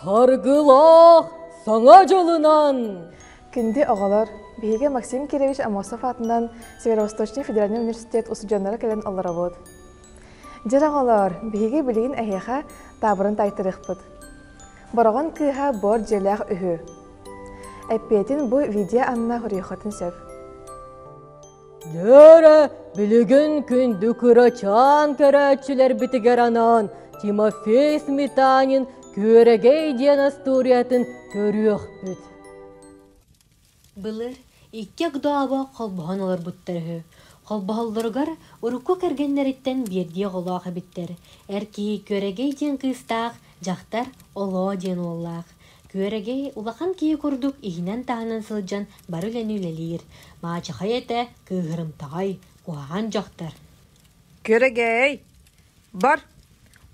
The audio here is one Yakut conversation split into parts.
Саргылах саҥа дьылынан! Күнде оҕолор, биһиги Максим Кириллович Амосов аатынан Северо-Восточный федеральный университет усудьуоннара кэлэн олоробут. Дьэр оҕолоор, биһиги билигин эһиэхэ таабырын тайтарыахпыт. Бороҕон кыыһа буор дьиэлээх үһү. Эппиэтин бу видео анна үрүйхэтин сөп. Дөрө, билигин күндү кырачаан көрөөччүлэрбитигэр анаан Тимофей Сметанин Күөрэгэй диэн астуориятын көрүөхпүт. Былыр икки Огдообо холбоһон олорбуттар үһү. Холбоһоллоругар урукку кэргэннэриттэн биирдии оҕолоох эбиттэр. Эр киһи Күөрэгэй диэн кыыстаах, дьахтар Олоо диэн уоллаах. Күөрэгэй улахан киһи курдук иһинэн-таһынан сылдьан бары үлэни үлэлиир. Маачахай этэ, кыыһырымтаҕай, куһаҕан дьахтар. Күөрэгэй, бар,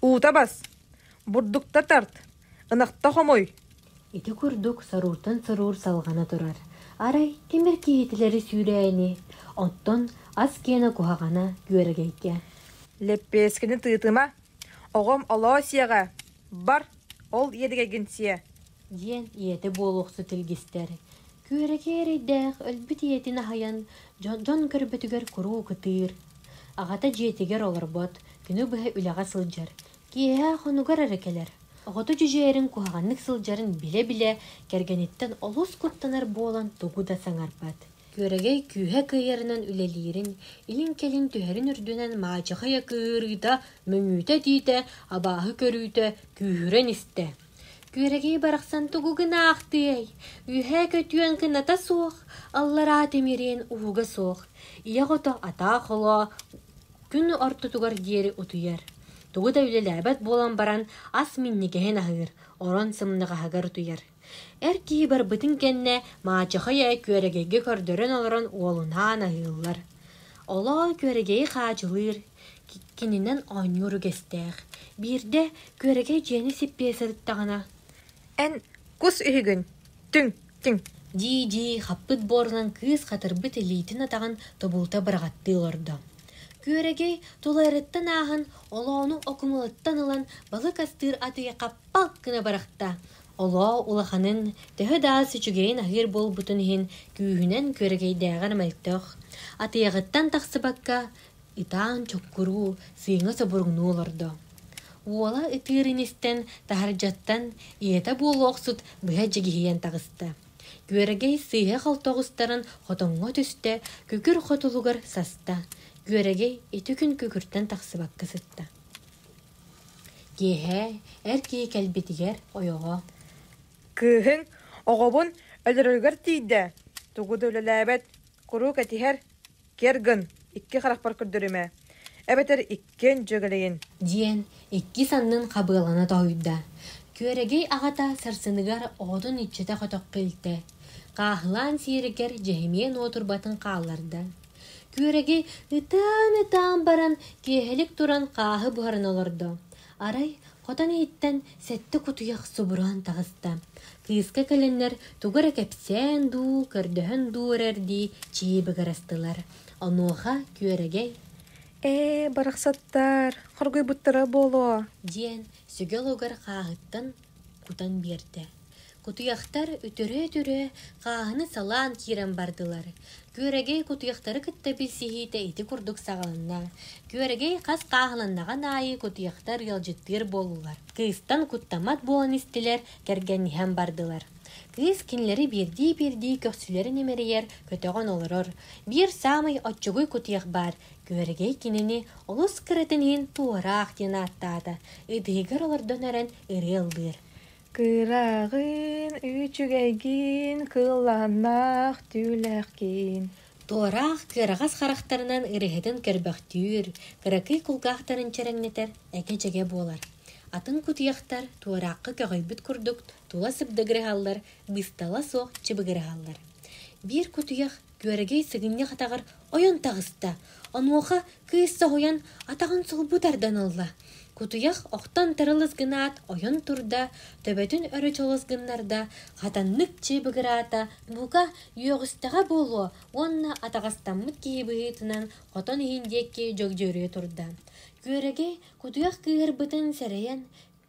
уута бас, бурдукта тарт, Ынахта хомуй! Ити курдук сорууртан соруur салҕана турар. Арай тимир киһитилэри сүүрээни, оттон ас киэнэ куһаҕана күөрэгэйгэ. Лэппиэскини тыытыма, оҕом олоо сиэҕэ, бар, ол иэдигэйгин сиэ. диэн ийэтэ буолуохсут илгистэр. Күөрэгэй эрэйдээх өлбүт ийэтин аһайан дьон көрбөтүгэр куруук ытыыр. Аҕата дьиэтигэр олорбот, күнү быһа үлэҕэ сылдьар, Киэһэ хонугар эрэ кэлэр. Оҕото дьүдьэйэрин куһаҕаннык сылдьарын билэ-билэ кэргэниттэн олус куттанар буолан тугу да саҥарбат. Күөрэгэй күүһэ кыайарынан үлэлиирин, илин-кэлин түһэрин үрдүнэн маачахай акыырыыта, мөҥүүтэ-этиитэ, абааһы көрүүтэ күүһүрэн истэ. Күөрэгэй барахсан тугу гынаахтыай? Үөһээ көтүөн кыната суох, аллараа тимириэн ууга суох. Ийэ ото атаа-холоо Күн ортотугар диэри утуйар. Тугу да үлэлээбэт буолан баран, ас минньигэһин аһыыр, орон сымнаҕаһыгар утуйар. Эр киһи барбытын кэннэ маачахай ээ күөрэгэйгэ көрдөрөн олорон уолунаан аһыыллар. Олоо күөрэгэйи хаачылыыр, ки- кининэн оонньуур үгэстээх. Биирдэ күөрэгэй дьиэни сиппиэ сырыттаҕына, Эн кус үһүгүн, түҥ. дии-дии хаппыт буорунан кыыс хатырбыт илиитин-атаҕын тобулута быраҕаттыы олордо. Күөрэгэй тулайарыттан ааһан, олоону окумалыттан ылан, балык астыыр атыйа хаппал гына бырахта. Олоо улаханын, төһө да ас үчүгэйин аһыыр буолбутун иһин, күүһүнэн күөрэгэйдээҕэр мөлтөх. Атыйаҕыттан тахсыбакка, ытаан чуккуруу сыыҥа собуруҥнуу олордо. Уола ытыырын истэн, таһырдьаттан ийэтэ буола охсут быһа дьигиһийэн таҕыста. Күөрэгэй сыыһа халта оҕустарын хотоҥҥо түстэ, күкүр хотулугар саста. Күөрэгэй ити күн күкүртэн тахсыбакка сытта. Киэһэ эр киһи кэлбитигэр ойоҕо «Кыыһыҥ оҕобун өлөрөрүгэр тиийдэ, тугу да үлэлээбэт, куруук этиһэр Кэргэн, икки харахпар көрдөрүм ээ. Эбэтэр иккиэн дьүөгэлэйин. Диэн икки саннын хабыалана тоһуйда. Күөрэгэй аҕата сарсыныгар оҕотун иччитэ хотоххо илтэ, хааһылаан сиэригэр дьэһимиэн уотурбатын хаалларда. Күөрэгэй ытаан-ытаан баран киэһэлик туран хааһы буһаран олордо, Арай, хотон иһиттэн сэттэ кутуйах субураан таҕыста. Кыыска кэлэннэр тугу эрэ кэпсээн дуу, көрдөһөн дуу эрэрдии чии быгырастылар. Онуоха Күөрэгэй «Ээ, барахсаттар, хоргуйбуттара буолуо», диэн сүгэ олугар хааһыттан кутан биэрдэ. Кутуйахтар үтүрүө-үтүрүө хааһыны салаан киирэн бардылар. Күөрэгэй кутуйахтары кытта билсиһиитэ ити курдук саҕаланна. Күөрэгэй хас хааһыланнаҕын аайы кутуйахтар ыалдьыттыыр буоллулар. Кыыстан куттаммат буолан истилэр, кэргэнниһэн бардылар. Кыыс кинилэри биирдии-биирдии көхсүлэрин имэрийэр, көтөҕөн олорор. Биир саамай оччугуй кутуйах баар, күөрэгэй кинини олус кыратын иһин туораах диэн ааттаата. Ытыыгар олордон эрэн ырыа ыллыыр. Кыраҕын, үүчүгэйгин, кыыллааннаах түүлэхгин. Туораах кыараҕас харахтарынан ырыһытын көрбөхтүүр, кыракый кулгаахтарын чэрэҥнэтэр этэ-дьэгэ буолар. Атын кутуйахтар туораахха көҕөйбүт курдук тула сыбдыгыраһаллар, быыстала суох чыбыгыраһаллар. Биир кутуйах Күөрэгэй сыгынньах атаҕар ойон таҕыста. Онуоха кыыс соһуйан атаҕын сулбу тардан ылла. Кутуйах охтон тырылыс гынаат ойон турда, төбөтүн өрө чолос гыннарда, хатаннык чыыбыгыраата, бука, үөҕүстэҕэ буолуо уонна атаҕастаммыт киһи быһыытынан хотон иһин диэки дьөгдьөрүө турда. Күөрэгэй кутуйах кыыһырбытын сэрэйэн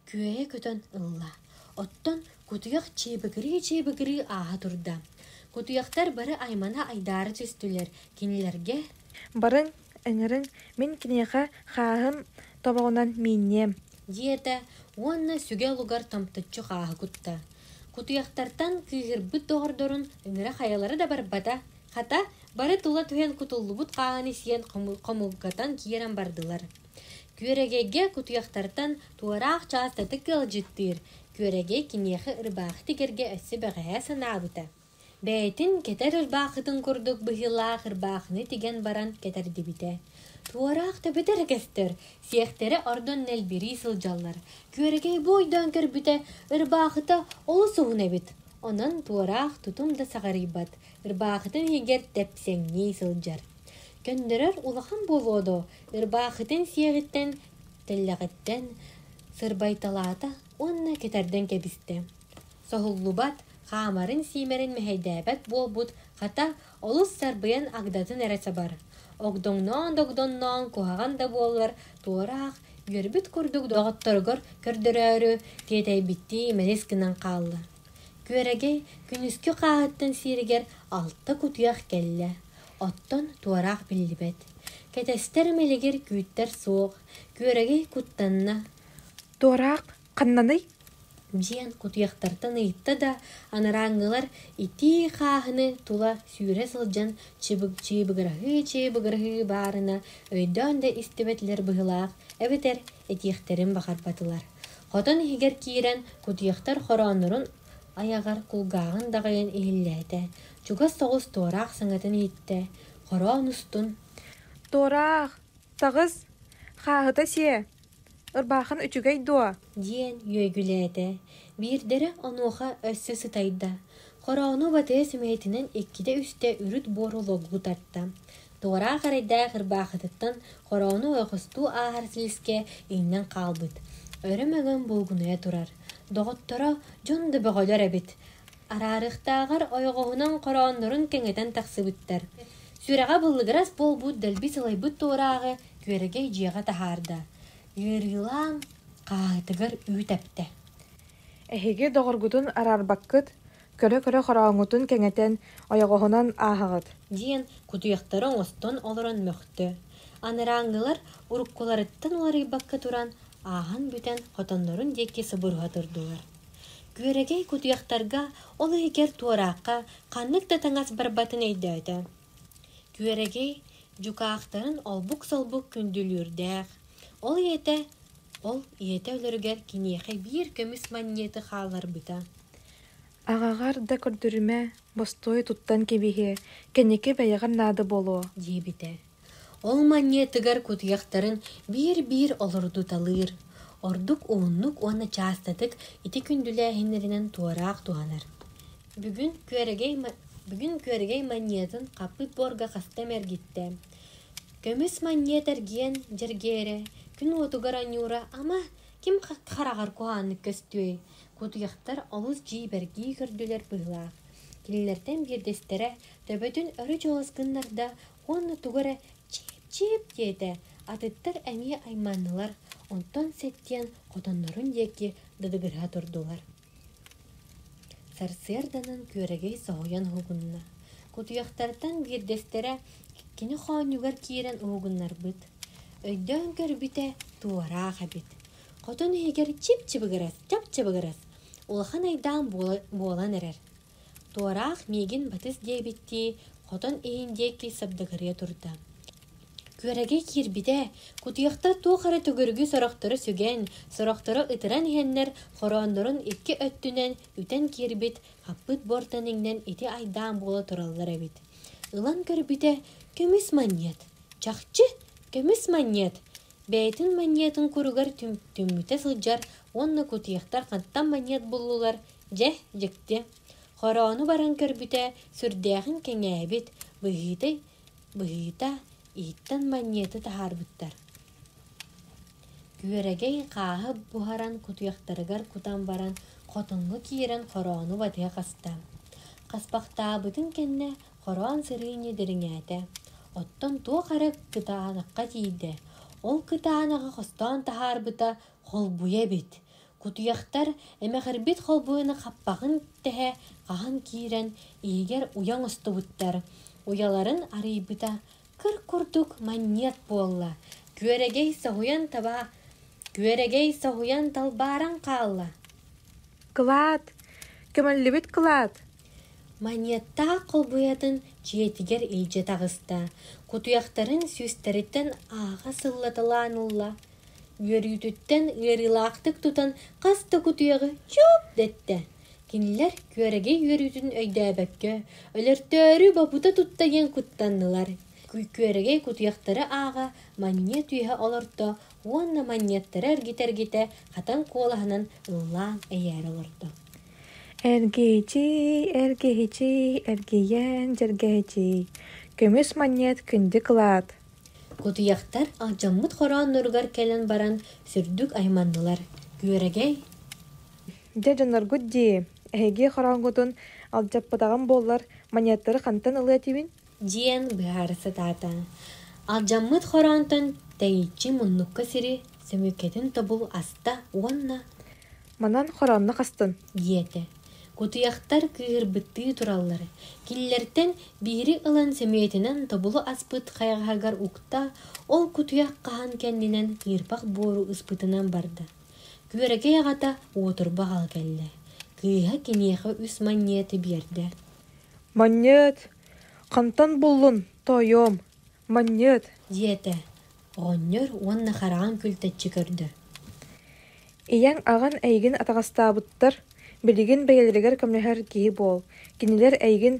күөйэ көтөн ылла. Оттон кутуйах чиибигирии-чиибигирии ааһа турда. Кутуйахтар бары аймана айдаара түстүлэр. Кинилэргэ «Барыҥ, ыҥырыҥ, мин киниэхэ хааһым тобоҕунан миинниэм» диэтэ уонна сүгэ лугар тамтыччы хааһы кутта. Кутуйахтартан кыыһырбыт доҕордорун ыҥыра хайалара да барбата, хата, бары тула түһэн кутуллубут хааһын исиэн хомулгатан киирэн бардылар. Күөрэгэйгэ кутуйахтартан туораах чаастатык ыалдьыттыыр, Күөрэгэй киниэхэ ырбаахытык эргэ өссө бэҕэһээ санаабыта: бэйэтин кэтэр ырбаахытын курдук быһыылаах ырбаахыны тигэн баран кэтэрдибитэ. Туораах төбөтөр өкөстөр сиэхтэрэ ордон нэлбирии сылдьаллар. Күөрэгэй бу ойдоон көрбүтэ, ырбаахыта олус уһун эбит. Онон туораах тутум да саҕарыйбат, ырбаахытын иһигэр тэпсэҥнии сылдьар. Көннөрөр улахан буолуо доо, Ырбаахытын сиэҕиттэн, тэллэҕиттэн сырбайталаата уонна кэтэрдэн кэбистэ. Соһуллубат, хаамарын-сиимэрин мэһэйдээбэт буолбут, хата, олус сарбыйан агдатын эрэ сабар, огдоҥноон-догдоҥноон куһаҕан да буоллар туораах, үөрбүт курдук доҕотторугар көрдөрөөрү тиэтэйбиттии мэлис гынан хаалла. Күөрэгэй күнүскү хааһыттан сиэригэр алта кутуйах кэллэ. Оттон туораах биллибэт. Кэтэстэр мэлигир күүттэр суох, күөрэгэй куттанна. Туораах ханнаный? диэн кутуйахтартан ыйытта да, анарааҥҥылар итии хааһыны тула сүүрэ сылдьан чыбык-чыыбыгыраһыы-чыыбыгыраһыы баарына өйдөөн да истибэтилэр быһыылаах эбэтэр этиэхтэрин баҕарбатылар. Хотон иһигэр киирэн кутуйахтар хорооннорун айаҕар кулгааҕын даҕайан иһиллээтэ, чугас соҕус туораах саҥатын иһиттэ, хороон устун «Туораах, таҕыс, хааһыта сиэ, ырбаахын үчүгэй дуо?» диэн үөгүлээтэ, биирдэрэ онуоха өссө сытайда, хороону батыа сүмэһитинэн иккитэ-үстэ үрүт буору логу тарта, Туораах эрэйдээх ырбаахытыттан хорону ойохостуу ааһар сиискэ иҥнэн хаалбыт, өрө мөҥөн булгунуйа турар. Доҕотторо дьон да бөҕөлөр эбит. Араарыхтааҕар ойоҕоһунан хорооннорун кэҥэтэн тахсыбыттар. Сүрэҕэ быллыгырас буолбут дэлби сылайбыт туорааҕы күөрэгэй дьиэҕэ таһаарда. Ыарыылаан хааһытыгар үүт эптэ. «Эһиги доҕоргутун араарбаккыт, көрө-көрө хорооҥҥутун кэҥэтэн, ойоҕоһунан ааһаҕыт. Диэн кутуйахтары оҥостон олорон мөхтө. Анарааҥҥылар уруккуларыттан уларыйбакка туран, ааһан бүтэн хотоннорун диэки субуруһа турдулар. Күөрэгэй кутуйахтарга ол иһигэр туораахха ханнык да таҥас барбатын өйдөөтө. Күөрэгэй дьукаахтарын олбук-солбук күндүлүүрдээх. Ол ийэтэ ол ийэтэ өлөрүгэр киниэхэ биир көмүс манньыаты хаалларбыта. Аҕаҕар да көрдөрүмэ, бостуой туттан кэбиһиэ, кэнники бэйэҕэр наада буолуо, диэбитэ. Ол манньыатыгар кутуйахтарын биир-биир олордуталыыр. Ордук ууннук уонна чаастатык ити күндүлээһиннэринэн туораах туһанар. Бүгүн күөрэгэй бүгүн күөрэгэй манньыатын хаппыт буорга хаста эмэ эргиттэ. Көмүс манньыат эргиэн дьэргээрэ, күн уотугар анньуура, ама, ким хараҕар куһааннык көстүөй, Кутуйахтар олус дьиибэргии көрдүлэр быһыылаах. Кинилэртэн биирдэстэрэ төбөтүн өрө чуолас гыннарда уонна тугу эрэ чип-чип диэтэ, атыттар эмиэ айманнылар, онтон сэттиэн хотоннорун диэки дыдыгыраһа турдулар. Сарсыарданан күөрэгэй соһуйан уһугунна. Кутуйахтартан биирдэстэрэ кини хоонньугар киирэн уһугуннарбыт. Өйдөөн көрбүтэ, туораах эбит. Хотун иһигэр чип-чыбыгырас, чап-чыбыгырас улахан айдаан буолан эрэр. Туораах миигин батыс диэбиттии хотон иһин диэки сабдыгырыйа турда. Күөрэгэ киирбитэ, кутуйахтар туох эрэ төгүрүгү сорохтору сүгэн, сорохтору ытыран иһэннэр хорооннорун икки өттүнэн үтэн киирбит хаппыт буортан иҥнэн ити айдаан буола тураллар эбит. Ылан көрбүтэ, көмүс манньыат. Чахчы, көмүс манньыат! бэйэтин манньыатын куругар түмтүммүтэ сылдьар уонна кутьехтар хантан манньыат буллулар дьэ дьикти хороону баран көрбүтэ сүрдээҕин кэҥээбит быһыыта быһыыта иһиттэн манньыаты таһаарбыттар күөрэгэй хааһы буһаран кутьехтарыгар кутан баран хотуҥҥу киирэн хороону батыһа хаста хаспахтаабытын кэннэ Хороон сырыыны дириҥээтэ, оттон туох эрэ кытаанахха тиийдэ, ол кытаанаҕы хостоон таһаарбыта холбуйа эбит. Кутуйахтар эмэхирбит холбуйаны хаппаҕын тэһэ хаһан киирэн иһигэр уйа оҥостубуттар. Уйаларын арыйбыта кыр курдук манньыат буолла. Күөрэгэй соһуйан таба күөрэгэй соһуйан талбааран хаалла. Кылаат! Көмөллүбүт кылаат! Манньыаттаах холбуйатын дьиэтигэр илдьэ таҕыста, кутуйахтарын сүүстэриттэн ааҕа сыллаталаан ылла, үөрүүтүттэн ыарыылаахтык тутан хас да кутуйаҕы чуп дэттэ. Кинилэр күөрэгэй үөрүүтүн өйдөөбөккө, өлөртөөрү бобута тутта диэн куттаннылар. Күөрэгэй кутуйахтары ааҕа манньыат үөһэ олорто уонна манньыаттары эргитэ-эргитэ хатан куолаһынан ыллаан эйээри олордо. Эргийичии, эргиһичии, эргийэн дьэргэһичии, көмүс манньыат күндү кылаат Утуйахтар алдьаммыт хороонноругар кэлэн баран сүрдүк айманнылар. Күөрэгэй Дьэ дьонноргут дии, эһиги хорооҥҥутун алдьаппатаҕым буоллар, манньыаттары хантан ылыа этибин? диэн быһаара сатаата. Алдьаммыт хороонтон тэйиччи муннукка сири, сөмүккэтин тобул аста уонна «Манан хороонно хастын» диэтэ. Кутуйахтар кыыһырбыттыы тураллар. Киллэртэн биири ылан сөмүйэтинэн тобулу аспыт хайаҕаһыгар укта, ол кутуйах хаһан кэннинэн кыырпах буору ыспытынан барда. Күөрэгэй аҕата уотурбаҕал кэллэ. Кыыһа киниэхэ үс манньыаты биэрдэ. «Манньыат, Хантан буллун, тоойуом, манньыат диэтэ оҕонньор уонна хараҕын күлтэччи көрдө ийэҥ аҕан эйигин атаҕастаабыттар билигин бэйэлэригэр көмөлөһөр киһи буол кинилэр эйигин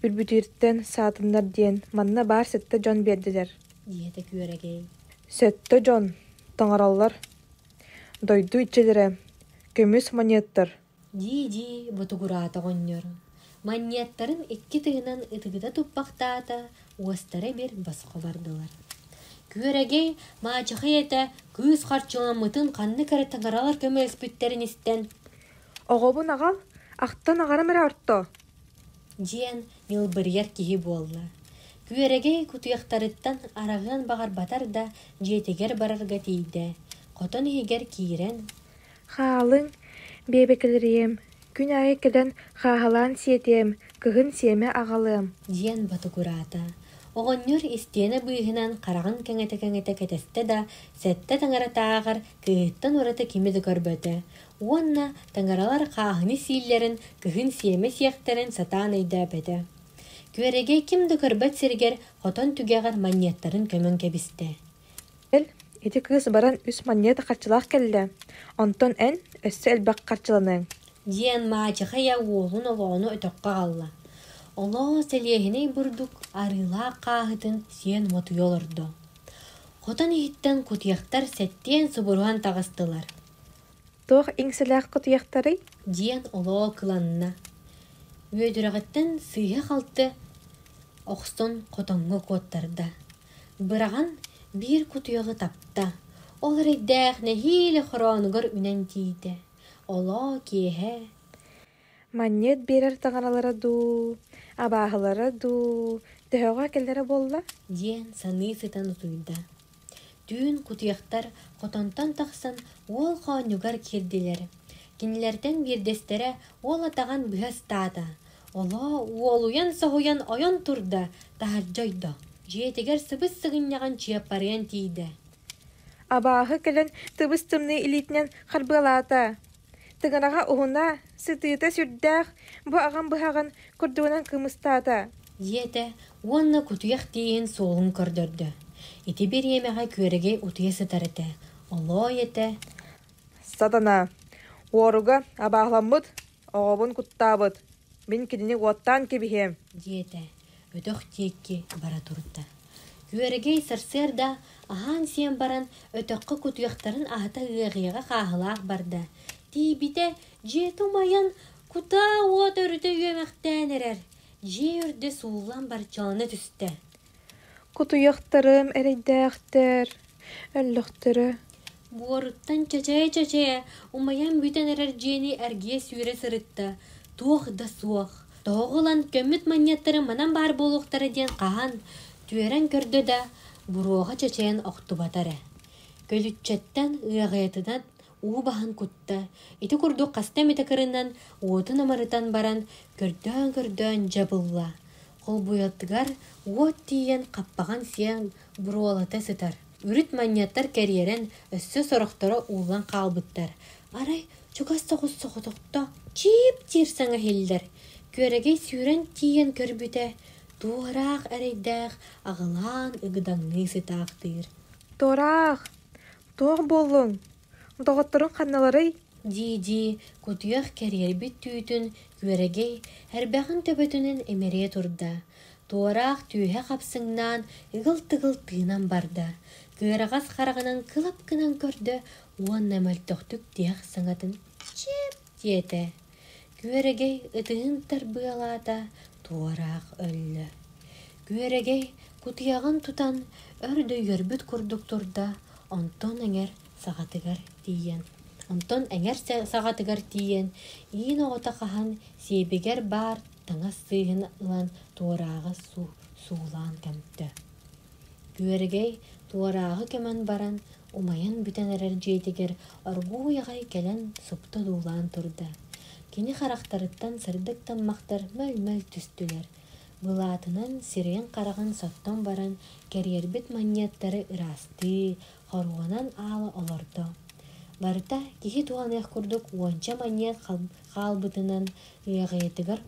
үрбүтүртэн саатыннар диэн манна баар сэттэ дьон биэрдилэр диэтэ күөрэгэй сэттэ дьон таҥаралар дойду иччилэрэ көмүс монеттар дии-дии ботугураата оҕонньор манньыаттарын икки тыынан ытыгыта туппахтаата уостара эмир босхо бардылар күөрэгэй маачахай этэ кыыс харчыламмытын ханнык эрэ таҥаралар көмөлөспүттэрин истэн оҕобун аҕал ахтан аҕарам эрэ ортоо диэн ньылбырыйар киһи буолла күөрэгэй кутуйахтарыттан араҕыан баҕарбатар да дьиэтигэр барарга тиийдэ хотон иһигэр киирэн Хаалыҥ, биэбэкилэриэм, күн аайы кэлэн хааһылаан сиэтиэм, кыһын сиэмэ аҕалыам» диэн ботугураата. Оҕонньор истиэнэ быыһынан хараҕын кэҥэтэ-кэҥэтэ кэтэстэ да, сэттэ таҥаратааҕар кыыһыттан ураты кими да көрбөтө уонна таҥаралар хааһыны сииллэрин, кыһын сиэмэ сиэхтэрин сатаан өйдөөбөтө. Күөрэгэй ким да көрбөт сиригэр хотон түгэҕэр манньыаттарын көмөн кэбистэ. Кэл, ити кыыс баран үс манньыата харчылаах кэллэ, онтон эн өссө элбэх харчыланыаҥ диэн маачахайа уолун олоону өтөххө аҕалла. Олоо сэлиэһинэй бурдук арыылаах хааһытын сиэн уотуйа олордо. Хотон иһиттэн кутуйахтар сэттиэн субуруһан таҕыстылар. Туох иҥсэлээх кутуйахтарый? диэн олоо кыланна. Үөдүрэҕиттэн сыыһа-халты охсон хотоҥҥо куоттарда. быраҕан биир кутуйаҕы тапта, ол эрэйдээх нэһиилэ хороонугар үнэн тиийдэ, олоо киэһэ «Манньыат биэрэр таҥаралара дуу, абааһылара дуу, төһөҕө кэлэрэ буолла?» диэн саныы сытан утуйда. Түүн кутуйахтар хотонтон тахсан уол хоонньугар киирдилэр. Кинилэртэн биирдэстэрэ уол атаҕын быһа ыстаата, Олоо, уолуйан-соһуйан ойон турда, таһырдьа ойдо. Дьиэтигэр сыбыс-сыгынньаҕын Чыаппарыйан тиийдэ. Абааһы кэлэн тыбыс-тымныы илиитинэн харбыалаата. Тыгыраҕа уһуна, сытыыта сүрдээх, бу аҕам быһаҕын курдугунан кымыстаата. Диэтэ уонна кутуйах тииһин суолун көрдөрдө. Ити бириэмэҕэ күөрэгэй утуйа сытар этэ. Олоо этэ. Сатана, уоруга абааһыламмыт, Оҕобун куттаабыт. Мин кинини уоттаан кэбиһиэм. диэтэ өтөх диэки бара турда. Күөрэгэй сарсыарда аһаан-сиэн баран өтөххө кутуйахтарын аһата ыаҕыйаҕа хааһылаах барда. Тиийбитэ дьиэ тумайан кутаа уот өрүтэ үөмэхтээн эрэр. Дьиэ үрдэ сууллан барчалана түстэ. Кутуйахтарым эрэйдээхтэр, өллөхтөрө Буоруттан чачээ-чачээ умайан бүтэн эрэр дьиэни эргийэ сүүрэ сырытта. Туох да суох. Тоҕо ылан көммүт манньаттары манан баар буолуохтара диэн хаһан, түөрэн көрдө да, буруоҕа чачайан охтубата эрэ. Көлүччэттэн ыаҕайатынан уу баһан кутта, ити курдук хаста эмитэ кырынан уотун амарытан баран көрдөөн-көрдөөн дьабылла, холбуйатыгар уот тиийэн хаппаҕын сиэн буруолата сытар. Үрүт манньаттар кэрийэрэн өссө сорохторо ууллан хаалбыттар. Арай чугас соҕус соҕотохто чиип-чиир саҥаһиллэр. Күөрэгэй сүүрэн тиийэн көрбүтэ, туораах эрэйдээх аҕылаан ыгыдаҥныы сытаахтыыр. «Туораах, туох буоллуҥ доҕотторуҥ ханналарый дии-дии кутуйах кэрийэрбит түүтүн күөрэгэй эрбэҕин төбөтүнэн имэрийэ турда туораах түөһэ хапсыҥнаан ыгыл-тыгыл тыынан барда кыараҕас хараҕынан кылап гынан көрдө уонна мөлтөхтүк тиһэх саҥатын чиэп диэтэ күөрэгэй ытыһын тарбыалаата туораах өллө күөрэгэй кутуйаҕын тутан өрдөйүөрбүт курдук турда онтон эҥэр саҕатыгар тиийэн онтон эҥэр саҕатыгар тиийэн иин оҕото хаһан сиэбигэр баар таҥас сыыһын ылан туорааҕы суулаан кэмтэ Күөрэгэй туорааҕы көмөн баран, умайан бүтэн эрэр дьиэтигэр оргууй аҕай кэлэн супту одуулаан турда. Кини харахтарыттан сырдык таммахтар мөл-мөл түстүлэр. Былаатынан сирэйин-хараҕын соттон баран, кэриэрбит манньыаттары ыраастыы, хоруонан аала олордо. Барыта киһи туһаныах курдук уонча манньыат хаалбытынан, ыаҕыйатыгар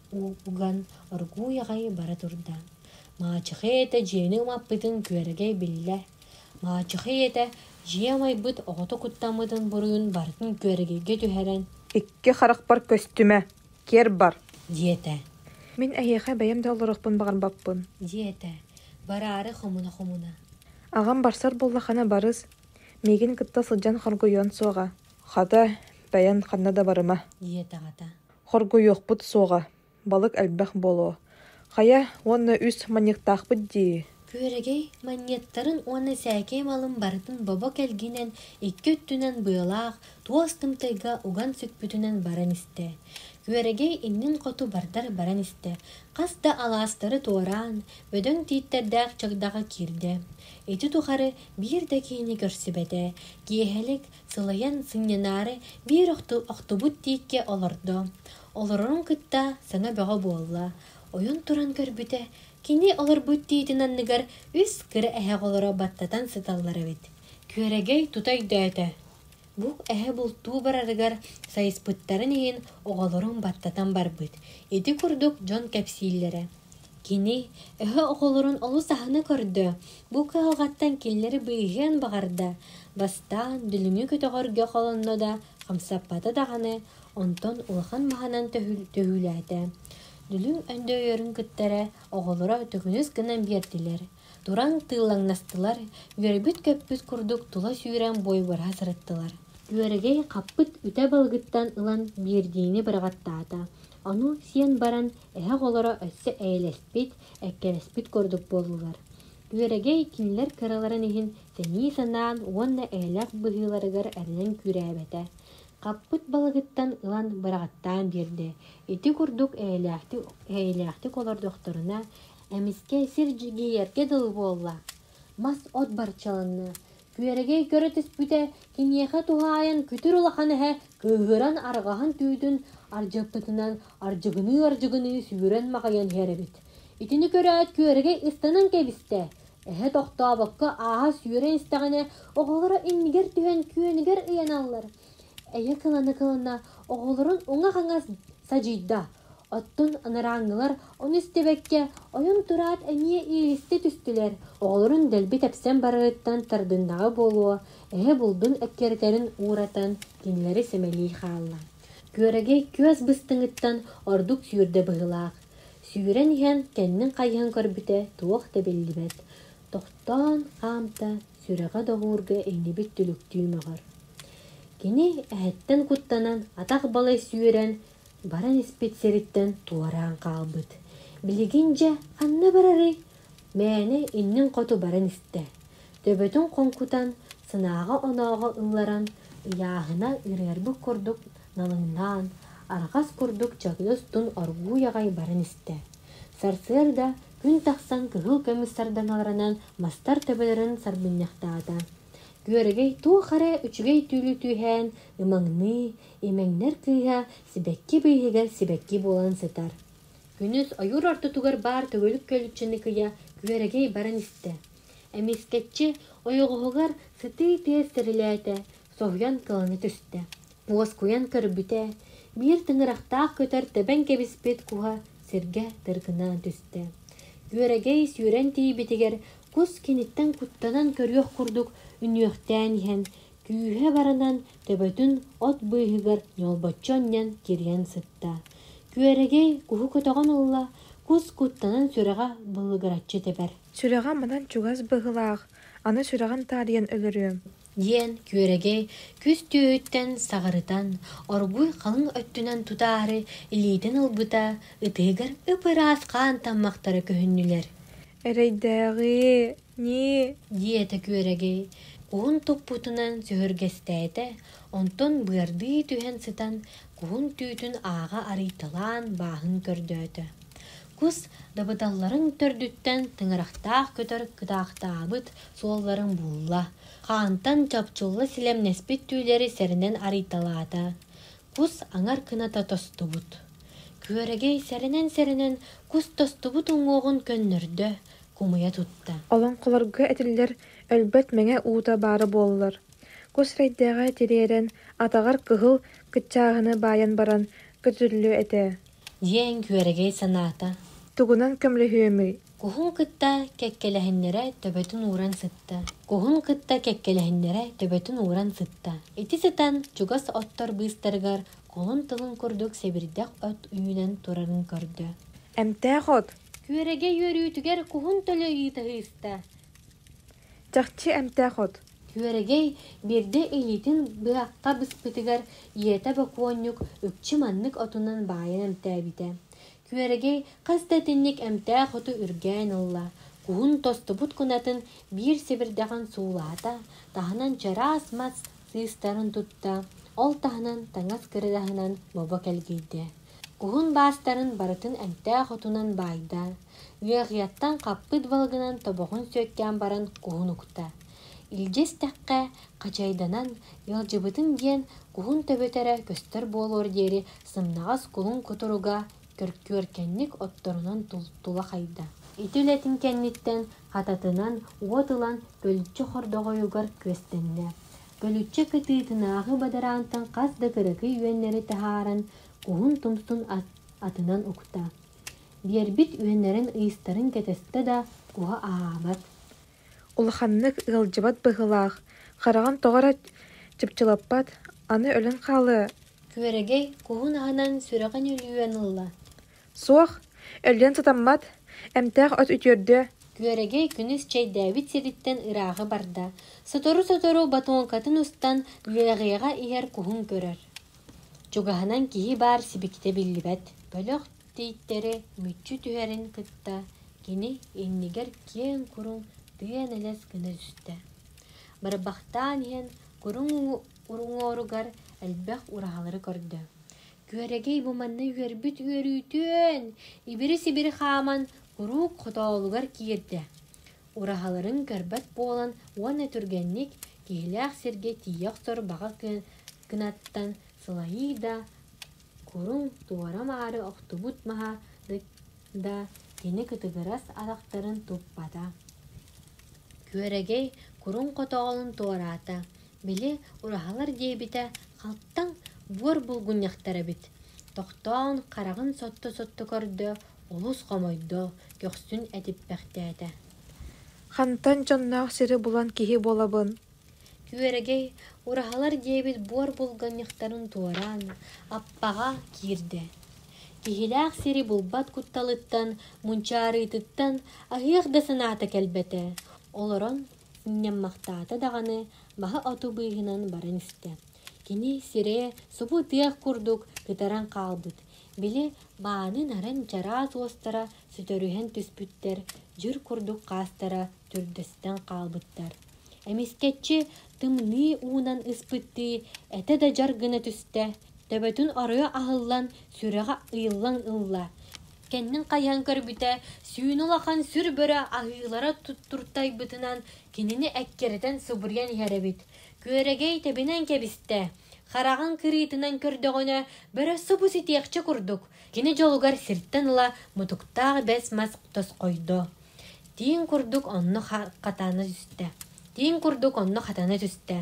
уган, оргууй аҕай бара турда. Маачыхай ийэтэ дьиэни ымаппытын Күөрэгэй биллэ, Маачыхай ийэтэ дьиэ амайбыт оҕото куттаммытын буруйун барытын Күөрэгэйгэ түһэрэн «Икки харахпар көстүмэ, киэр бар» диэтэ. Мин эһиэхэ бэйэм да олоруохпун баҕарбаппын. диэтэ, бараары хомуна-хомуна. Аҕам барсар буолла хана барыс, миигин кытта сылдьан хоргуйуон суоҕа. Хата, бэйэн ханна да барыма. диэтэҕэтэ. Хоргуйуохпут суоҕа, Балык элбэх буолуо. Хайа, уонна үс манньыктаахпыт дии. Күөрэгэй манньыаттарын уонна сээкэй малын барытын бобо кэлгинэн икки өттүнэн быалаах, туос тымтайга уган сүкпүтүнэн баран истэ. Күөрэгэй иннин хоту бардар баран истэ. Хас да алаастары туораан, бөдөҥ тииттэрдээх чагдаҕа киирдэ. Ити тухары биир да киһини көрсүбэтэ. Киэһэлик, сылайан сынньанаары биир охтубут тииккэ олордо. Олорорун кытта саҥа бөҕө буолла. Ойон туран көрбүтэ, кини олорбут тиитин анныгар үс кыра эһэх олоро баттатан сыталлар эбит. Күөрэгэй тута өйдөөтө. Бу эһэ бултуу барарыгар сайыспыттарын иһин оҕолорун баттатан барбыт. Ити курдук дьон кэпсииллэрэ. Кини өһө оҕолорун олус аһына көрдө. Бу кыһалҕаттан кинилэри быыһыан баҕарда. Бастаан дүлүҥү көтөҕөргө холонно да хамсаппата даҕаны, онтон улахан маһынан төһүүлээтэ. Дүлүҥ Өндөөйөрүн кыттара оҕолоро төкүнүс гынан биэрдилэр, туран тыыллаҥнастылар, үөрбүт-көппүт курдук тула сүүрэн буойбара сырыттылар. Үөрэгэй хаппыт үтэ балыгыттан ылан биэрдиини быраҕаттаата. Ону сиэн баран, эһэ оҕолоро өссө эйэлэспит, эккирэспит курдук буоллулар. Үөрэгэй кинилэр кыраларын иһин сэнии санаан уонна эйэлээх быһыыларыгар эрэнэн күүрээбэтэ. Хаппыт балыгыттан ылан быраҕаттаан биэрдэ. Ити курдук эйэлээхтик, эйэлээхтик олордохторуна, эмискэ сир дьигийэргэ дылы буолла. Мас от барчаланна, Күөрэгэй көрө түспүтэ, киниэхэ туһаайан күтүр улахан эһэ кыыһыран арҕаһын түүтүн ардьыппытынан ардьыгыныы-ардьыгыныы сүүрэн маҕайан иһэр эбит. Итини көрөөт Күөрэгэй ыстанан кэбистэ. Эһэ тохтообокко ааһа сүүрэн истэҕинэ, оҕолоро иннигэр түһэн күөнүгэр ыйаналлар. эйэ кыланы-кылына оҕолорун уҥа-хаҥас садьыйда, оттон анарааҥҥылар ону истибэккэ ойон-тураат эмиэ иилистэ түстүлэр, оҕолорун дэлби тэпсэн барарыттан тардыннаҕа буолуо, эһэ булдун эккирэтэрин ууратан кинилэри сэмэлии хаалла. Күөрэгэй күөс быстыҥыттан ордук сүүрдэ быһыылаах. Сүүрэн иһэн кэннин хайыһан көрбүтэ туох да биллибэт. Тохтоон хаамта, сүрэҕэ доҕуурга иҥнибит түлүктүү мөҕөр. Кини эһэттэн куттанан атах балай сүүрэн баран испит сириттэн туораан хаалбыт. Билигин дьэ ханна барарый? мээнэ иннин хоту баран истэ. Төбөтүн хоҥкутан, сынааҕа-онооҕо ылларан, ыйааһына үрээрбит курдук налыҥнаан, арҕас курдук чагыйас тун оргууй аҕай баран истэ. Сарсыарда күн тахсан кыһыл көмүс сардаҥаларынан мастар төбөлөрүн сарбынньахтаата. Күөрэгэй туох эрэ үчүгэй түүлү түһээн ымаҥныы, имэҥнэр кыыһа сибэкки быыһыгар сибэкки буолан сытар. Күнүс ойуур ортотугар баар төгүлүк көлүччэни кыйа Күөрэгэй баран истэ. Эмискэччи ойоҕоһугар сытыы тыас тэрилээтэ, соһуйан кылана түстэ. Уоскуйан көрбүтэ, биир тыҥырахтаах көтөр тэбэн кэбиспит куһа сиргэ тыргына түстэ. Үөрэгэй сүүрэн тиийбитигэр кус киниттэн куттанан көрүөх курдук үнүөхтээн иһэн, күүһэ баранан төбөтүн от быыһыгар ньолбоччу анньан кирийэн сытта. Күөрэгэй куһу көтөҕөн ылла, кус куттанан сүрэҕэ былыгыраччы тэбэр. Сүрэҕэ манан чугас быһыылаах, аны сүрэҕин таарыйан өлөрүөм диэн күөрэгэй күс түөһүттэн саҕырытан, оргууй халыҥ өттүнэн тутаары илиитин ылбыта ытыыгар ып-ыраас хаан таммахтара көһүннүлэр. «Эрэйдээҕи ньии!» диэтэ күөрэгэй куһун туппутунан сөһүргэстээтэ, онтон быардыы түһэн сытан куһун түүтүн ааҕа арыйталаан бааһын көрдөөтө. кус дабыдалларын төрдүттэн тыҥырахтаах көтөр кытаахтаабыт суолларын булла, хаантан чопчулла силэмнэспит түүлэри сэрэнэн арыйталаата. Кус аҥар кыната тостубут. Күөрэгэй сэрэнэн-сэрэнэн кус тостубут уҥуоҕун көннөрдө, кумуйа тутта. Олоҥхолорго этиллэр өлбөт мэҥэ уута баара буоллар, кус эрэйдээҕэ тириэрэн, атаҕар кыһыл кыччааһыны баайан баран көтүллүө этэ. Дьиэ үҥкүөрэгэй санаата. Тугунан көмөлөһүөмүй? Куһун кытта кэккэлэһиннэрэ төбөтүн ууран сытта. Куһун кытта кэккэлэһиннэрэ төбөтүн ууран сытта. Ити сытан чугас оттор быыстарыгар холун тылын курдук сэбирдэх от үүнэн турарын көрдө. Эмтээх от! Күөрэгэй үөрүүтүгэр куһун төлө ыйыта сыыста. Чахчы эмтээх от. Күөрэгэй биирдэ илиитин быһахха быспытыгар ийэтэ бокуонньук үкчү маннык отунан баайан эмтээбитэ. Күөрэгэй хас да итинник эмтээх оту үргээн ылла, куһун тостубут кунатын биир сибирдэҕин суулаата, таһынан чараас мас сыыстарын тутта, ол таһынан таҥас кырыгаһынан бобо кэлгийдэ. Куһун баастарын барытын эмтээх отунан баайда, Ыаҕыйаттан хаппыт балыгынан тобоҕун сүөккээн баран куһун укта. Илдьэ истэххэ, хачайданан, ыалдьыбытыҥ диэн куһун төбөтөрө көстөр буолуор диэри сымнаҕас куһун кутуруга көркүөркэнник отторунан тула хайда. Ити үлэтин кэнниттэн хататынан уот ылан көлүччэ хордоҕойугар күөстэннэ. Көлүччэ кытыытынааҕы бадараантан хас да кыракый үөннэри таһааран, куһун тумсун атынан укта. биэрбит үөннэрин-ыйыстарын кэтэстэ да, уһа аһаабат. Улаханнык ыалдьыбат быһыылаах, хараҕын тоҕо эрэ чыпчылаппат, аны өлөн хаалыа. Күөрэгэй куһун аһынан сүрэҕин үлүйэн ылла. Суох, өлүөн сатаммат, эмтээх от үтүөрдүө. Күөрэгэй күнүс чэйдээбит сириттэн ырааҕы барда, сотору-сотору батоҥкатын устан үөрэҕиэҕэ иһэр куһун көрөр. Чугаһынан киһи баар сибикитэ биллибэт, бөлөх. тийтэрэ мүччү түһэрин кытта кини иннигэр киэҥ куруҥ тыа-нэлэс гына түстэ барбахтаан иһэн куруҥ уруҥуоругар элбэх ураһалары көрдө күөрэгэй бу манна үөрбүт үөрүүтүн ибири-сибири хааман куруук хотоолугар киирдэ ураһаларын көрбөт буолан уонна түргэнник киһилээх сиргэ тиийэ охтор баҕа кынаттан сылайыы да куруҥ туора-маары охтубут маһа да кини кытыгырас атахтарын туппата, күөрэгэй куруҥ хотоҕолун туораата, били ураһалар диэбитэ халтаҥ буор булгунньахтар эбит, тохтоон хараҕын сотто-сотто көрдө, олус хомойдо, көхсүн этиппэхтээтэ: «Хантан дьонноох сири булан киһи буолабын Күөрэгэй ураһалар диэбит буор булганньыктарын туораан, Аппаҕа киирдэ. Киһилээх сири булбат кутталыттан, мунчаарыытыттан аһыах да санаата кэлбэтэ, олорон сынньаммахтаата даҕаны, баһа оту быыһынан баран истэ. Кини сирэ субу ытыах курдук кытаран хаалбыт, били мааны наран чараас уостара сүтэрүһэн түспүттэр, дьүр курдук хаастара төрдөстөн хаалбыттар. Эмискэччи тымныы уунан ыспыттыы этэ да дьар гына түстэ, төбөтүн оройо аһыллан, сүрэҕэ ыйыллан ылла. Кэннин хайыһан көрбүтэ, сүүнэ улахан сүр бөрө аһыылара туттуртайбытынан кинини эккирэтэн субуруйан иһэр эбит. Күөрэгэй тэбинэн кэбистэ. Хараҕын кырыытынан көрдөҕүнэ, бөрө субу ситиэхчэ курдук. Кини дьолугар сиртэн ыла мутуктаах бэс мас тосхойдо. Тииҥ курдук онно хатана түстэ. Тииҥ курдук онно хатана түстэ.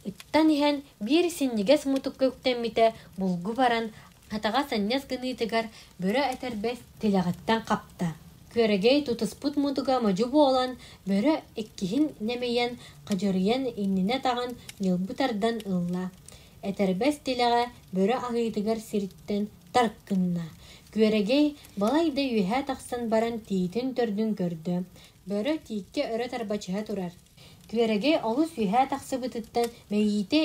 Ыттан иһэн биир синньигэс мутукка үктэммитэ булгу баран хатаҕа санньас гыныытыгар бөрө этэрбэс тилэҕиттэн хапта. Күөрэгэй тутуспут мутуга модьу буолан бөрө иккиһин нэмийэн хадьырыйан иннинэ таҕан ньылбы тардан ылла. Этэрбэс тилэҕэ бөрө аһыытыгар сириттэн тарык гынна. Күөрэгэй Балай да үөһэ тахсан баран тиитин-төрдүн көрдө, бөрө тииккэ өрө тарбачыһа турар. Күөрэги олус үөһэ тахсыбытыттан мэйиитэ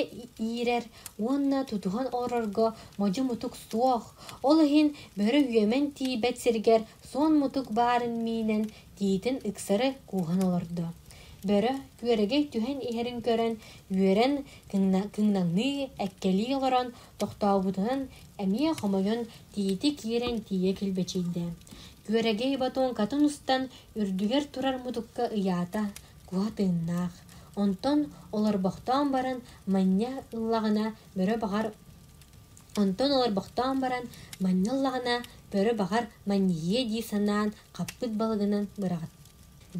иирэр уонна тутуһан олорорго модьу-мутук суох, ол иһин бөрө үөмэн тиийбэт сиригэр суон-мутук баарын миинэн тиитин ыксары кууһан олордо. Бөрө күөрэгэй түһэн иһэрин көрөн, үөрэн кыҥнаҥныы, эккэлии олорон Тохтообутунан эмиэ хомойон тиити киирэн тиийэ килбэчийдэ. Күөрэгэй батоҥкатын устан үрдүгэр турар мутукка ыйаата, куһа тыыннаах. Онтон олорбохтоон баран манньа ыллаҕына бөрө баҕар Онтон олорбохтоон баран манньа ыллаҕына бөрө баҕар манньыһыа дии санаан хаппыт балыгынан быраҕыт.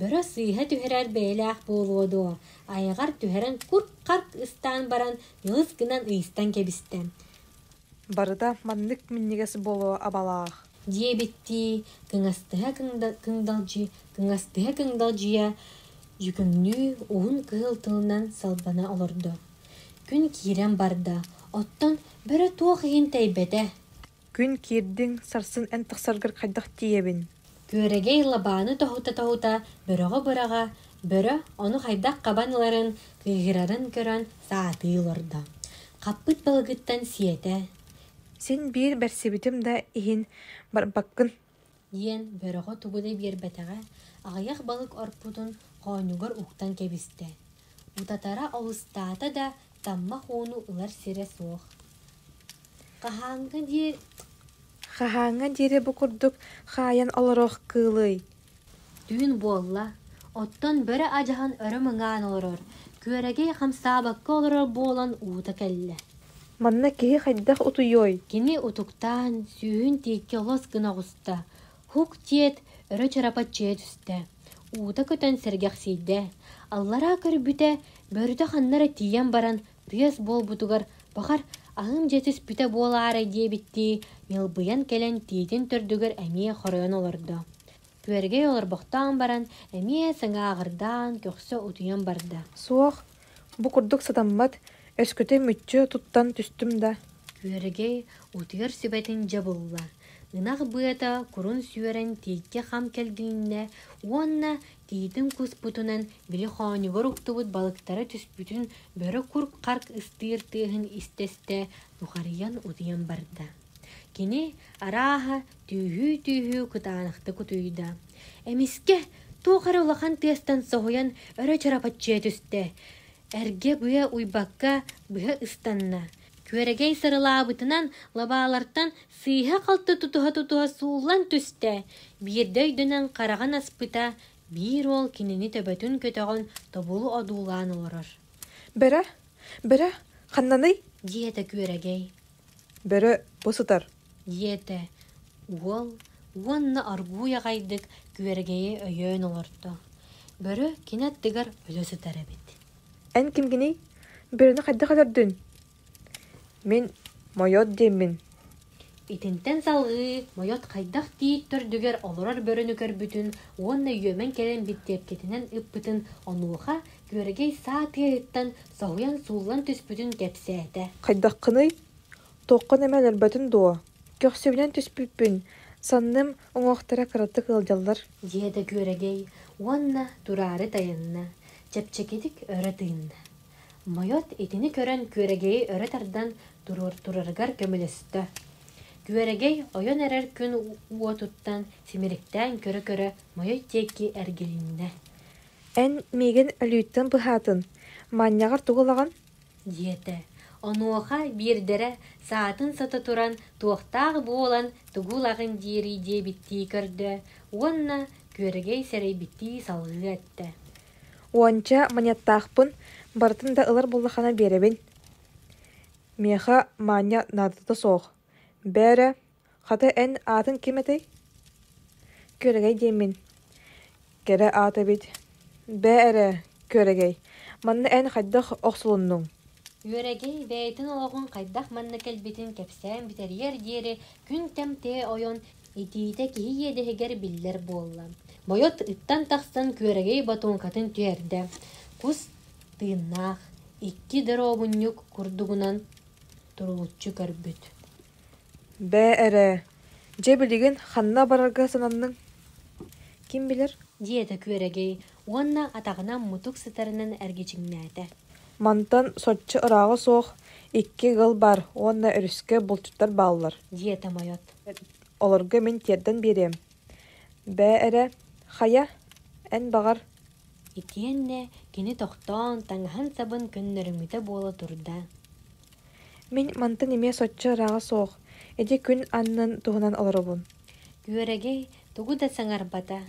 Бөрө сыыһа түһэрэр бэйэлээх буолуо дуо, айаҕар түһэрэн курк-харк ыстаан баран Кыыс гынан ыйыстан кэбистэ. Барыта маннык минньигэс буолуо абалаах. Диэбиттии, кыҥастыһа кыҥдалдьы, кыҥастыһа кыҥдалдьыйа дьүкүҥнүү уһун кыһыл тылынан салбана олордо. Күн киирэн барда, оттон бөрө туох иһин тэйбэтэ. Күн киирдиҥ, сарсын эн тахсаргар хайдах тиийэбин Күөрэгэй лабааны тоһута-тоһута бөҕө-быраҕа, бөрө ону хайдах хабан ыларын, кыыһырарын көрөн саатыы олордо. Хаппыт балыгыттан сиэтэ: «Син биир барсыбытым да иһин барбаккын диэн бөрөҕө тугу да биэрбэтэҕэ аҕыйах балык орпутун хоонньугар уктан кэбистэ утатара олустаата да таммах ууну ылар сирэ суох хаһааҥҥа диэри бу курдук хаайан олоруох кыылый түүн буолла, оттон бөрө адьаһан өрө мыҥаан олорор, күөрэгэй хамсаабакка олорор буолан уута кэллэ. Манна киһи хайдах утуйуой? Кини утуктаан, сүүһүн тиэккэ олос гына оҕуста, һук диэт, өрө чарапаччыйа түстэ, уута көтөн сэргэхсийдэ, аллараа көрбүтэ, бөрүтэ ханна эрэ тиийэн баран, Тыас буолбутугар, бахар, аһыым дьэ түспүтэ буолаарай диэбиттии, ньылбыйан кэлэн тиитин төрдүгэр эмиэ хоройон олордо. Күөргэй олорбохтоон баран, эмиэ сыҥааҕырдаан, көхсө утуйан барда. Суох, бу курдук сатаммат, өскөтө мүччү туттан түстүм да. Күөргэй утуйар сүбэтин дьэ булла. Ынах быата курун сүөрэн тииккэ хам кэлгиннэ уонна Тиитин куспутунан били хоонньугар уктубут балыктара түспүтүн бөрө курк-харк ыстыыр тыаһын истэ-истэ нухарыйан утуйан барда. Кини, арааһа, түүһүү-түүһүү кытаанахтык утуйда. Эмискэ туох эрэ улахан тыастан соһуйан өрө чарапаччыйа түстэ. Эргэ быа уйбакка быһа ыстанна. Күөрэгэй сырылаабытынан лабаалартан сыыһа-халты тутуһа-тутуһа сууллан түстэ, биирдэ өйдөнөн хараҕын аспыта, биир уол кинини төбөтүн көтөҕөн тобулу одуулаан олорор. «Бэрэ, бэрэ, ханнаный?» диэтэ күөрэгэй. Бөрө, бу сытар! Диэтэ уол уонна оргууй аҕайдык күөргэйи өйөөн олордо. Бөрө кини аттыгар өлө сытар эбит. Эн кимгиний? Бөрөнү хайдах өлөрдүн? Мин Мойот диэммин. Итинтэн салҕыы Мойот хайдах тиит төрдүгэр олорор бөрөнү көрбүтүн уонна үөмэн кэлэн бүттиэпкэтинэн ыппытын онуоха Күөрэгэй саа тыаһыттан соһуйан сууллан түспүтүн кэпсээтэ. Хайдаххыный? Туоххун эмэ өлөрбөтүн дуо? Көхсүбүнэн түспүппүн, санным, уҥуохтара кыратык ыалдьаллар. Диэтэ Күөрэгэй уонна тураары тайанна, чэпчэкитик өрө тыынна. Мойот итини көрөн Күөрэгэйи өрө тардан туруортурарыгар көмөлөстө. Күөрэгэй ойон эрэр күн уотуттан симириктээн көрө-көрө Мойой диэки эргилиннэ. Эн миигин өлүүттэн быһаатын, манньаҕар тугу ылаҕын? диэтэ. Онуоха биирдэрэ саатын сото туран туохтаах буолан тугу ылаҕын диэри диэбиттии көрдө уонна күөрэгэй сэрэйбиттии салҕыы эттэ. Уонча манньаттаахпын, барытын да ылар буоллаххына биэрэбин. Миэхэ маанньа наадата суох, бээрэ Хата эн аатын ким этэй? Күөрэгэй диэммин. Кэрэ аат эбит. Бээ эрэ, Күөрэгэй, манна эн хайдах охсулуннуҥ? Күөрэгэй бэйэтин олоҕун хайдах манна кэлбитин кэпсээн бүтэриэр диэри күн-кэм тыа ойон, итиитэ киһи иэдэһигэр биллэр буолла. Бойот ыттан тахсан Күөрэгэй ботуоҥкатын түһэрдэ. Кус тыыннаах, икки доруобунньук курдугунан туруулуччу көрбүт Бээ эрэ, дьэ билигин ханна барарга сананныҥ? Ким билэр? диэтэ Күөрэгэй уонна атаҕынан мутук сытарынан эргичиҥнээтэ. Мантан соччо ырааҕа суох икки ыал баар уонна өрүскэ булчуттар бааллар. диэтэ Мойот. Олорго мин тиэрдэн биэриэм. Бээ эрэ, хайа, эн баҕар? Итиэннэ кини тохтоон, таҥаһын-сабын көннөрүҥүтэ буола турда. Мин мантан эмиэ соччо ырааҕа суох, ити күн аннын туһунан олоробун Күөрэгэй тугу да саҥарбата,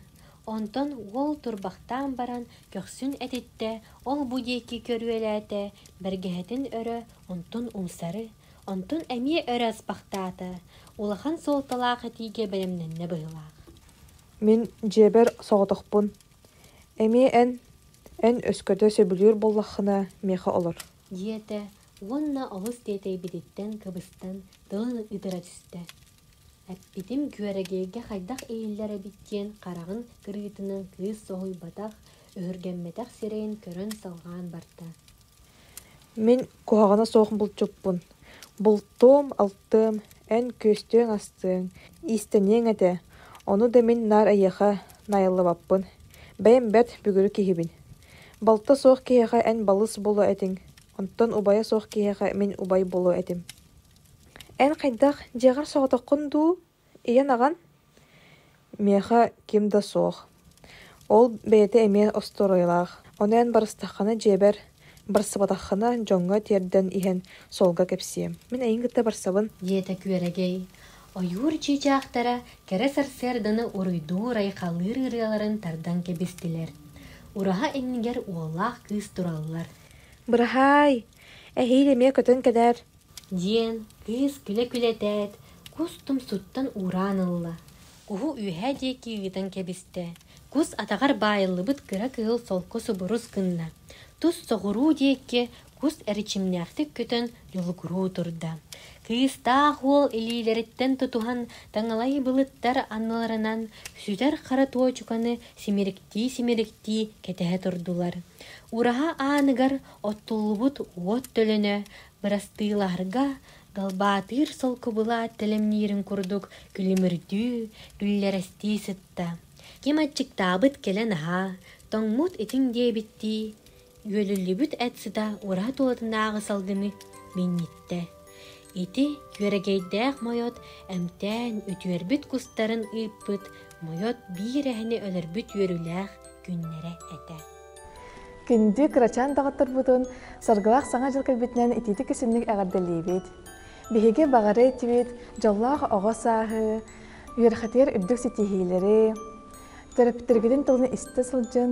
онтон уол турбахтаан баран көхсүн этиттэ, ол-бу диэки көрүөлээтэ, бэргэһэтин өрө, онтун умсары, онтун эмиэ өрө аспахтаата, улахан суолталаах этиигэ бэлэмнэннэ быһыылаах Мин дьиэбэр соҕотохпун, эмиэ эн, эн өскөтө сөбүлүүр буоллаххына миэхэ олор диэтэ уонна олус тиэтэйбититтэн кыбыстан тылын ытыра түстэ. Эппитим Күөрэгэйгэ хайдах иһиллэр эбит диэн хараҕын кырыытынан кыыс соһуйбатах, өһүргэммэтэх сирэйин көрөн салҕаан барда. Мин куһаҕана суох булчуппун. Бултуом, алтыам, эн күөстүөҥ-астыаҥ, иистэниэҥ этэ. Ону да мин наар эйиэхэ найыллыбаппын. Бэйэм бэрт бүгүрү киһибин. Балта суох киһиэхэ эн балыс буолуо этиҥ, онтон убайа суох киһиэхэ мин убай буолуо этим эн хайдах дьиэҕэр соҕотоххун дуу ийэн-аҕан миэхэ ким да суох ол бэйэтэ эмиэ остуоруйалаах ону эн барыстаххына дьиэбэр барсыбатаххына дьоҥҥо тиэрдэн иһэн суолга кэпсиэм мин эйиин кытта барсабын диэтэ күөрэгэй Ойуур чыычаахтара кэрэ сарсыарданы уруйдуур-айхалыыр ырыаларын тардан кэбистилэр. Ураһа иннигэр уоллаах кыыс тураллар. Быраһаай, эһиил эмиэ көтөн кэлээр. Диэн кыыс күлэ-күлэтээт, кус тумсуттан уураан ылла. Куһу үөһэ диэки ыытан кэбистэ. Кус атаҕар баайыллыбыт кыра кыһыл солко субурус гынна. Тус соҕуруу диэкки кус эрчимнээхтик көтөн дьулукуруу турда. Кыыстаах уол илиилэриттэн тутуһан таҥалай былыттар анныларынан сүтэр хара туочуканы симириктии-симириктии кэтэһэ турдулар. Ураһа ааныгар оттуллубут уот төлөнө бырастыылаһарга галбаатыыр солкубула тэлэмниирин курдук күлүмүрдүү, күллэрэстии сытта. Ким аччыктаабыт кэлэн аһаа, тоҥмут итиҥ диэбиттии, Үөлүллүбүт эт сыта ураһат уотунааҕы салгыны минньиттэ. Ити күөрэгэйдээх мойот эмтээн үтүөрбүт кустарын ыыппыт мойот биир эһэни өлөрбүт үөрүүлээх күннэрэ этэ. Күндү кырачаан даҕаттарбытын Саргылаах Саҥа дьыл кэлбитинэн итиитик исимник эҕэрдэлиибит. Биһиги баҕары этибит дьоллоох оҕо сааһы, үөрхэтигэр үрдүк ситиһиилэри, төрөппүттэргитин тылын истэ сылдьын,